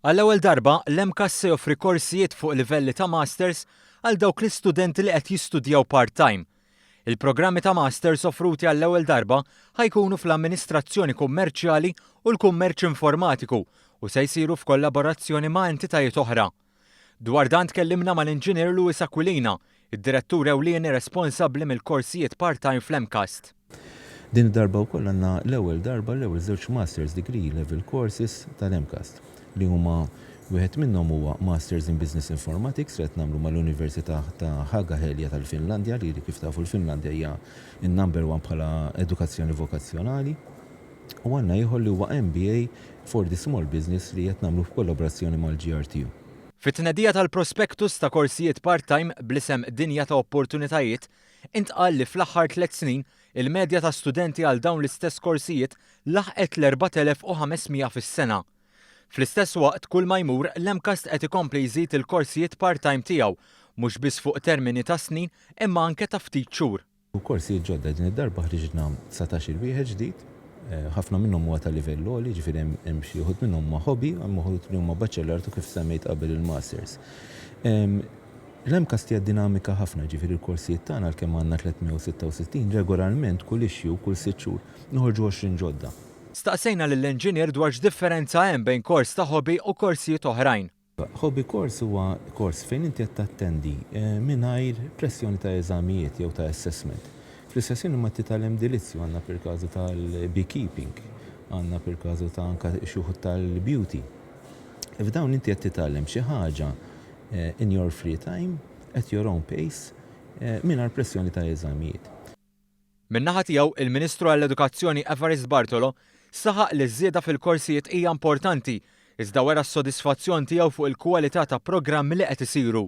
Għall-ewwel darba, l-MCAST se joffri korsijiet fuq livelli ta' Masters għal dawk l-istudenti li qed jistudjaw part-time. Il-programmi ta' Masters offruti għall-ewwel darba ħa jkunu fl-Amministrazzjoni Kummerċjali u l-Kummerċ Informatiku u se jsiru f'kollaborazzjoni ma' entitajiet oħra. Dwar dan tkellimna mal-Inġinier Louis Aquilina, id-Direttur Ewlieni responsabbli mill-korsijiet part-time fl-MCAST. Din id-darba wkoll għandna l-ewwel darba l-ewwel żewġ Masters Degree Level Courses tal-MCAST, li huma, wieħed minnhom huwa Masters in Business Informatics li qed nagħmlu mal-Università ta' Haaga-Helia tal-Finlandja li kif tafu l-Finlandja hija n-number one bħala edukazzjoni vokazzjonali. U għandna ieħor li huwa MBA for the Small Business li qed nagħmlu f'kollaborazzjoni mal-GRTU. Fit-tnedija tal-prospektus ta' korsijiet part-time bl-isem Dinja ta' Opportunitajiet, intqal li fl-aħħar tliet snin il-medja ta' studenti għal dawn l-istess korsijiet laħqet l-4,500 fis-sena. Fl-istess waqt kull ma jmur l-MCAST qed ikompli jżid il-korsijiet part-time tiegħu mhux biss fuq termini ta' snin imma anke ta' ftit xhur. u korsijiet ġodda. Din id-darba ħriġna dsatax-il wieħed ġdid, ħafna minnhom huwa ta' livell għoli, jiġifieri hemm hemm xi wħud minnhom huma hobby, hemm uħud li huma baċelart u kif semmejt qabel il-masters. L-MCAST hija dinamika ħafna, jiġifieri l-korsijiet tagħna għalkemm għandna 366, regolarment kull issue, kull sitt xhur, noħorġu għoxrin ġodda. Staqsejna lill-enġinier dwar x'differenza hemm bejn kors ta' hobby u korsijiet oħrajn. Hobby-course huwa kors fejn inti qed tattendi mingħajr pressjoni ta' eżamijiet jew ta' assessment. Fl-istess ħin imma titgħallem dilizzju, għandna pil-kazu tal-beekeeping, għandna pil-kazu ta' anka xi wħud tal-beauty. F'dawn inti qed titgħallem xi ħaġa in your free time, at your own pace, mingħajr pressjoni ta' eżamijiet. Min-naħa tiegħu, il-Ministru għall-Edukazzjoni Evarist Bartolo saħaq li ż-żieda fil-korsijiet hija importanti iżda wera s-sodisfazzjon tiegħu fuq il-kwalità ta' programmi li qed isiru.